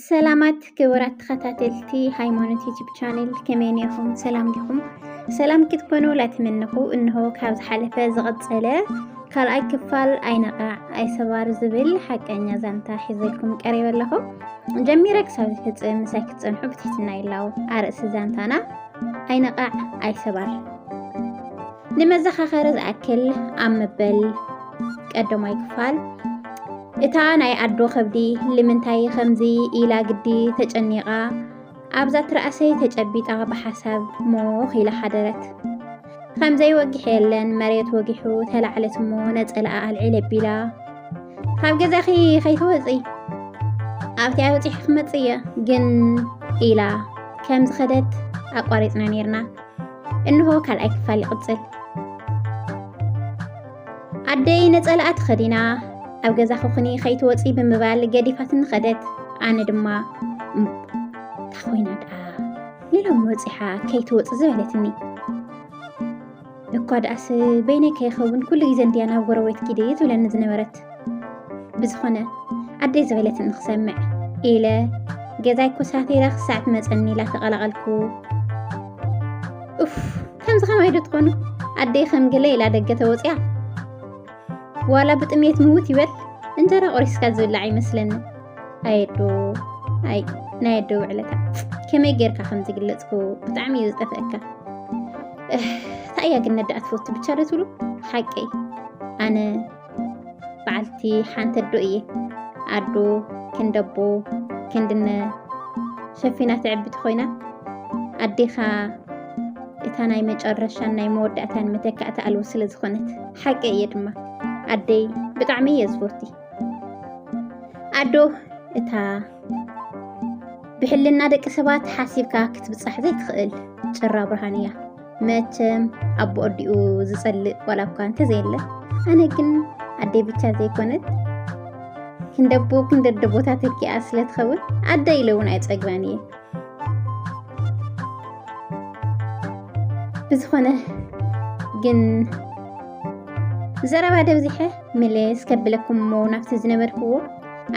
ሰላማት ክቡራት ተኸታተልቲ ሃይማኖት ዩቲብ ቻነል ከመይ ኔኹም? ሰላም ዲኹም? ሰላም ክትኮኑ ላትምንኹ እንሆ ካብ ዝሓለፈ ዝቐፀለ ካልኣይ ክፋል ኣይነቓዕ ኣይሰባር ዝብል ሓቀኛ ዛንታ ሒዘልኩም ቀሪበ ኣለኹ። ጀሚረ ክሳብ ዝፍፅም ምሳይ ክትፀንሑ ብትሕትና ይላው። ኣርእሲ ዛንታና ኣይነቓዕ ኣይሰባር ንመዘኻኸሪ ዝኣክል ኣብ መበል ቀዳማይ ክፋል እታ ናይ ኣዶ ከብዲ ልምንታይ ከምዚ ኢላ ግዲ ተጨኒቓ ኣብዛ ትርኣሰይ ተጨቢጣ ብሓሳብ ሞኽ ኢላ ሓደረት ከምዘይ ወጊሕ የለን መሬት ወጊሑ ተላዕለት እሞ ነፀላኣ ኣልዒል ኣቢላ ካብ ገዛኺ ከይትወፂ ኣብቲ ኣውፂሒ ክመፅእ እየ ግን ኢላ ከም ዝኸደት ኣቋሪፅና ነይርና እንሆ ካልኣይ ክፋል ይቕጽል። ኣደይ ነጸላኣ ተኸዲና ኣብ ገዛ ክኹኒ ከይትወፂ ብምባል ገዲፋትኒ ኸደት። ኣነ ድማ እታ ኮይና ደኣ ሌሎም ወፂሓ ከይትወፅ ዝበለትኒ እኳ ደኣስ በይነይ ከይኸውን ኩሉ ግዜ እንድያ ናብ ጎረቤት ኪዲ ትብለኒ ዝነበረት ብዝኾነ ኣደይ ዝበለት ንክሰምዕ ኢለ ገዛይ ኮሳቴራ ክሳዕ ትመፀኒ ኢላ ተቐላቐልኩ ኡፍ ከምዚ ከማይ ዶ ትኾኑ ኣደይ ከም ገለ ኢላ ደገ ተወፅያ ዋላ ብጥሜት ምውት ይበል እንጀራ ቆሪስካ ዝብላዕ ይመስለኒ ኣየዶ ኣይ ናይ ኣደ ውዕለታ ከመይ ጌርካ ከም ዝግለፅኩ ብጣዕሚ እዩ ዝጠፍአካ እንታይ እያ ግን ነዳኣ ትፈቱ ብቻ ዶ ትብሉ ሓቀይ ኣነ በዓልቲ ሓንቲ ኣዶ እየ ኣዶ ክንደቦ ክንድነ ሸፊና ትዕብቲ ኮይና ኣዴኻ እታ ናይ መጨረሻን ናይ መወዳእታን መተካእታ ኣልቦ ስለ ዝኾነት ሓቂ እየ ድማ ኣደይ ብጣዕሚ እየ ዝፎቲ ኣዶ እታ ብሕልና ደቂ ሰባት ሓሲብካ ክትብፃሕ ዘይትኽእል ጭራ ብርሃን እያ መቸም ኣቦ ኣዲኡ ዝጸልእ ዋላ እኳ እንተዘየለ ኣነ ግን ኣደይ ብቻ ዘይኮነት ክንደቦ ክንደደ ቦታ ተኪኣ ስለ ትኸውን ኣደ ኢለ እውን ኣይጸግባን እየ ብዝኾነ ግን ዘረባ ደብዚሐ ምልስ ከብለኩም እሞ ናብቲ ዝነበርክዎ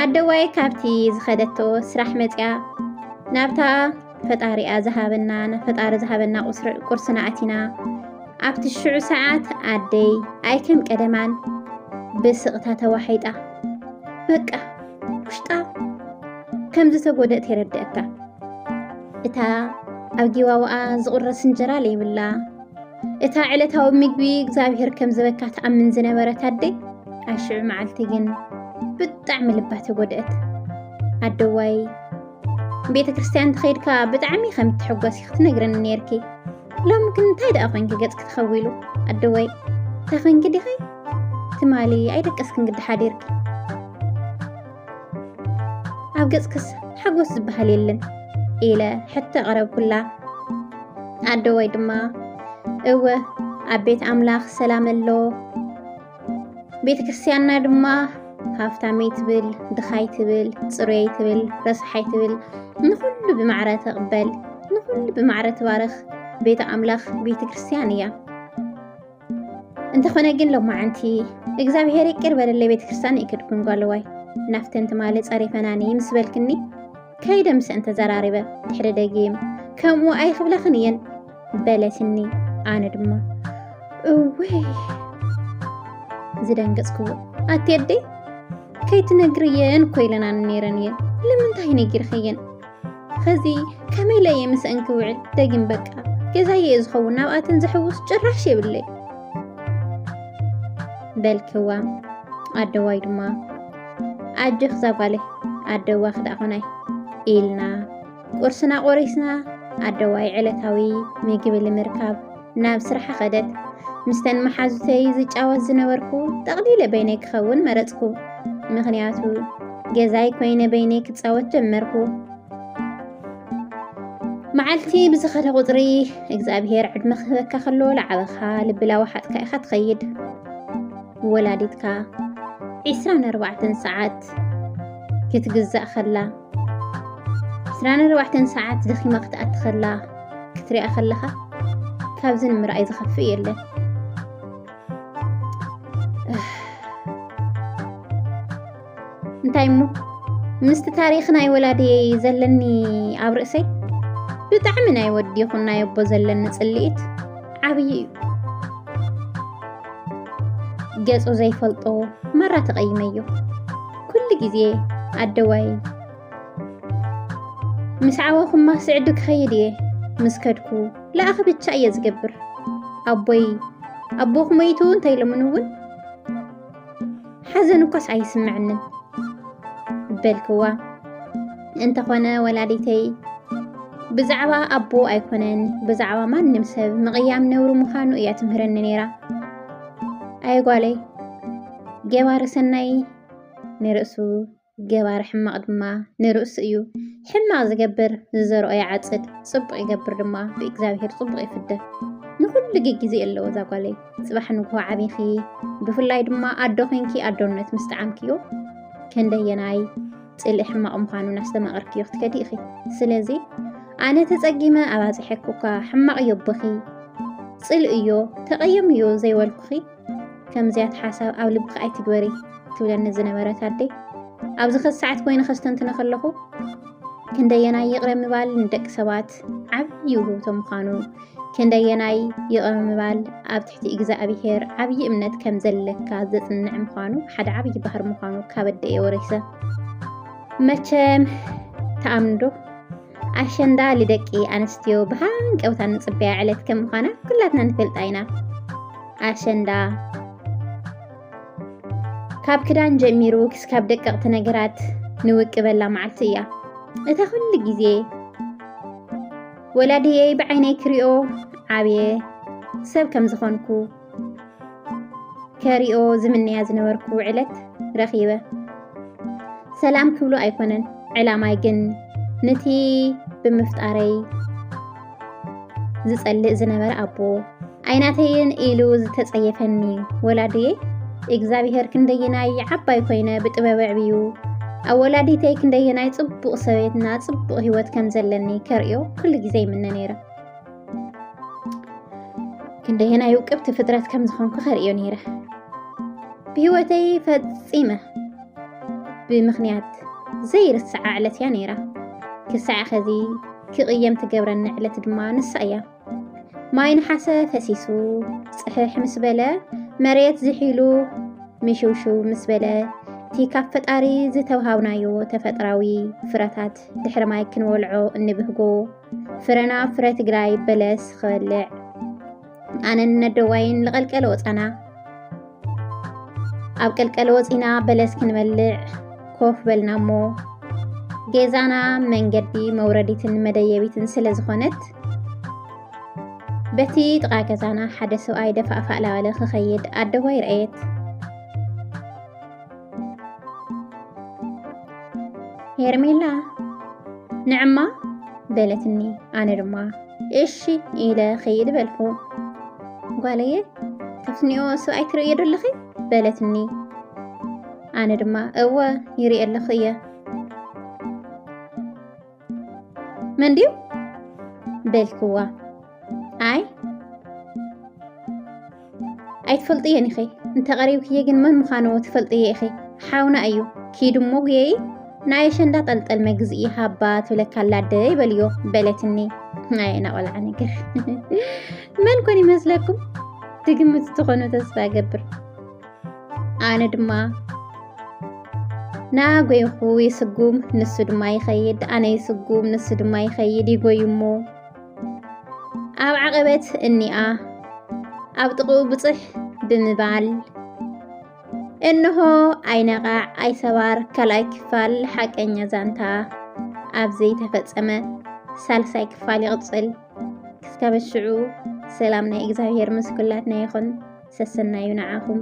ኣደዋይ ካብቲ ዝኸደቶ ስራሕ መፅያ ናብታ ፈጣሪኣ ዝሃበና ፈጣሪ ዝሃበና ቁርስና ኣቲና ኣብቲ ሽዑ ሰዓት ኣደይ ኣይከም ቀደማን ብስቕታ ተዋሒጣ በቃ ውሽጣ ከም ዝተጎደእት የረድአካ እታ ኣብ ጊዋዋኣ ዝቑረስ እንጀራ ለይብላ እታ ዕለታዊ ምግቢ እግዚኣብሔር ከም ዝበካ ትኣምን ዝነበረት ኣደይ ኣብ ሽዑ መዓልቲ ግን ብጣዕሚ ልባ ተጎድአት ኣደዋይ ቤተ ክርስቲያን ተኸይድካ ብጣዕሚ ከም እትሕጎሲ ክትነግረኒ ነርኪ ሎሚ ግን እንታይ ደኣ ኮንኪ ገጽኪ ተኸዊሉ ኣደወይ እንታይ ኮንኪ ዲኺ ትማሊ ኣይደቀስክን ግዲ ሓዲርኪ ኣብ ገጽክስ ሓጎስ ዝበሃል የለን ኢለ ሕቶ ቀረብኩላ ኣደወይ ድማ እወ ኣብ ቤት ኣምላኽ ሰላም ኣሎ ቤተ ክርስቲያንና ድማ ሃፍታመይ ትብል ድኻይ ትብል ፅሩየይ ትብል ረስሓይ ትብል ንኹሉ ብማዕረ ተቕበል ንኹሉ ብማዕረ ትባርኽ ቤተ ኣምላኽ ቤተ ክርስቲያን እያ እንተኾነ ግን ሎማዓንቲ እግዚኣብሔር ይቅር በለለይ ቤተ ክርስቲያን ይክድኩን ጓለዋይ ናፍተን ትማሊ ፀሪፈናኒ ምስ በልክኒ ከይደ ምስ እንተዘራሪበ ድሕሪ ደጊም ከምኡ ኣይክብላኽን እየን በለትኒ ኣነ ድማ እወይ ዝደንገፅክዎ ኣትየደ ከይትነግርየን እኮ ኢለናን ነይረን እየን ንምንታይ ነጊርኸየን ኸዚ ከመይ ኢለ እየ ምስአን ክውዕል ደጊም በቃ ገዛየ እየ ዝኸውን ናብኣተን ዘሕውስ ጭራሽ የብለይ በልክዋ ኣደዋይ ድማ ኣጆኽ ዛጓለይ ኣደዋ ክዳኾናይ ኢልና ቁርስና ቆሪስና ኣደዋይ ዕለታዊ ምግቢ ንምርካብ ናብ ስራሓ ኸደት። ምስተን መሓዙተይ ዝጫወት ዝነበርኩ ጠቕሊለ በይነይ ክኸውን መረፅኩ። ምኽንያቱ ገዛይ ኮይነ በይነይ ክፃወት ጀመርኩ። መዓልቲ ብዝኸደ ቁፅሪ እግዚኣብሄር ዕድመ ክህበካ ከሎ ላዕበኻ ልብላ ወሓጥካ ኢኻ ትኸይድ ወላዲትካ 24 ሰዓት ክትግዛእ ከላ ዕስራን ኣርባዕተን ሰዓት ደኺማ ክትኣቲ ከላ ክትሪኣ ከለኻ ካብዚ ንምርኣይ ዝኸፍእ የለን እንታይ እሞ ምስቲ ታሪክ ናይ ወላድየይ ዘለኒ ኣብ ርእሰይ ብጣዕሚ ናይ ወዲ ይኹን ናይ ኣቦ ዘለኒ ፅልኢት ዓብዪ እዩ ገጹ ዘይፈልጦ መራ ተቐይመዮ ኩሉ ግዜ ኣደዋይ ምስ ዓወኹማ ስዕዱ ክኸይድ እየ ምስ ከድኩ ለኣኺ ብቻ እየ ዝገብር ኣቦይ ኣቦኹ መይቱ እንተይሎምን እውን ሓዘን እኳስ ኣይስምዕንን በልክዋ። እንተኾነ ወላዲተይ ብዛዕባ ኣቦ ኣይኮነን ብዛዕባ ማንም ሰብ ምቕያም ነውሪ ምዃኑ እያ ትምህረኒ ነይራ። ኣይጓለይ ገባሪ ሰናይ ንርእሱ ገባሪ ሕማቕ ድማ ንርእሱ እዩ። ሕማቕ ዝገብር ዝዘርኦ ይዓጽድ፣ ጽቡቕ ይገብር ድማ ብእግዚኣብሄር ጽቡቕ ይፍደ። ንኹሉ ግጊዜ ኣለዎ እዛ ጓለይ። ጽባሕ ንግሆ ዓቢኺ፣ ብፍላይ ድማ ኣዶ ኮንኪ ኣዶነት ምስ ጠዓምክዮ ክንደየናይ ጽልኢ ሕማቕ ምዃኑ እናስተማቐርክዮ ክትከዲ ኢኺ። ስለዚ ኣነ ተጸጊመ ኣባጺሐኩካ ሕማቕ እዮ ቦኺ፣ ጽልኢ እዮ፣ ተቐየም እዮ ዘይበልኩኺ ከምዚያት ሓሳብ ኣብ ልብኺ ኣይትግበሪ ትብለኒ ዝነበረት ኣደይ ኣብዚ ኸዚ ሰዓት ኮይኑ ከስተንትነ ከለኹ ክንደየናይ ይቕረ ምባል ንደቂ ሰባት ዓብዪ ውህብቶ ምዃኑ ክንደየናይ ይቕረ ምባል ኣብ ትሕቲ እግዚኣብሄር ዓብዪ እምነት ከም ዘለካ ዘፅንዕ ምዃኑ ሓደ ዓብዪ ባህር ምዃኑ ካብ ኣደየ ወሪሰ መቸም ተኣምንዶ ኣሸንዳ ልደቂ ኣንስትዮ ብሃንቀውታ ንፅበያ ዕለት ከም ምዃና ኩላትና ንፈልጣ ኢና ኣሸንዳ ካብ ክዳን ጀሚሩ ክስካብ ደቀቕቲ ነገራት ንውቅበላ መዓልቲ እያ እታ ኩሉ ግዜ ወላድየይ ብዓይነይ ክሪኦ ዓብየ ሰብ ከም ዝኾንኩ ከሪኦ ዝምነያ ዝነበርኩ ዕለት ረኺበ ሰላም ክብሎ ኣይኮነን ዕላማይ ግን ነቲ ብምፍጣረይ ዝጸልእ ዝነበረ ኣቦ ኣይናተይን ኢሉ ዝተጸየፈኒ ወላድየ እግዚኣብሄር ክንደየናይ ዓባይ ኮይነ ብጥበብ ዕብዩ ኣብ ወላዲተይ ክንደየናይ ጽቡቕ ሰበይትና ጽቡቕ ህይወት ከም ዘለኒ ከርእዮ ኩሉ ግዜ ይምነ ነይረ ክንደየናይ ውቅብቲ ፍጥረት ከም ዝኾንኩ ከርእዮ ነይረ ብህይወተይ ፈፂመ ብምኽንያት ዘይርስዓ ዕለት እያ ነይራ ክሳዕ ኸዚ ክቕየም ትገብረኒ ዕለት ድማ ንሳ እያ ማይ ንሓሰ ፈሲሱ ፅሕሕ ምስ በለ መሬት ዝሒሉ ምሽውሽው ምስ በለ እቲ ካብ ፈጣሪ ዝተውሃብናዮ ተፈጥራዊ ፍረታት ድሕሪ ማይ ክንወልዖ እንብህጎ ፍረና ፍረ ትግራይ በለስ ክበልዕ ኣነን ነደዋይን ልቐልቀለ ወፃና ኣብ ቀልቀለ ወፂና በለስ ክንበልዕ ኮፍ በልና እሞ ገዛና መንገዲ መውረዲትን መደየቢትን ስለ ዝኾነት በቲ ጥቓ ገዛና ሓደ ሰብኣይ ደፋእፋእ ላበለ ክኸይድ ኣደዋይ ረኣየት ሄርሜላ ንዕማ በለትኒ ኣነ ድማ እሺ ኢለ ኸይድ በልኩ ጓለየ ካብትኒኦ ሰብኣይ ትርእዮ ደለኺ በለትኒ ኣነ ድማ እወ ይርእ ኣለኹ እየ መን ድዩ በልክዋ ኣይ ኣይትፈልጥየን ኢኺ እንተቐሪብክየ ግን መን ምዃኑ ትፈልጥየ ኢኺ ሓውና እዩ ኪዱ እሞ ጉየይ ናይ ኣሸንዳ ጠልጠል መግዝኢ ሃባ ትብለካ ኣላ ኣደ ይበልዮ በለትኒ ናይ ናቆልዓ ነገር መን ኮን ይመስለኩም ትግምት ትኾኑ ተስፋ ገብር ኣነ ድማ ናጎይኹ ይስጉም ንሱ ድማ ይኸይድ ኣነ ይስጉም ንሱ ድማ ይኸይድ ይጎዩ እሞ ኣብ ዓቐበት እኒኣ ኣብ ጥቕኡ ብፅሕ ብምባል እንሆ ኣይነቓዕ ኣይሰባር ካልኣይ ክፋል ሓቀኛ ዛንታ ኣብ ዘይተፈፀመ ሳልሳይ ክፋል ይቕፅል። ክሳብ ሽዑ ሰላም ናይ እግዚኣብሔር ምስ ኩላትና ይኹን። ሰሰናዩ ንዓኹም።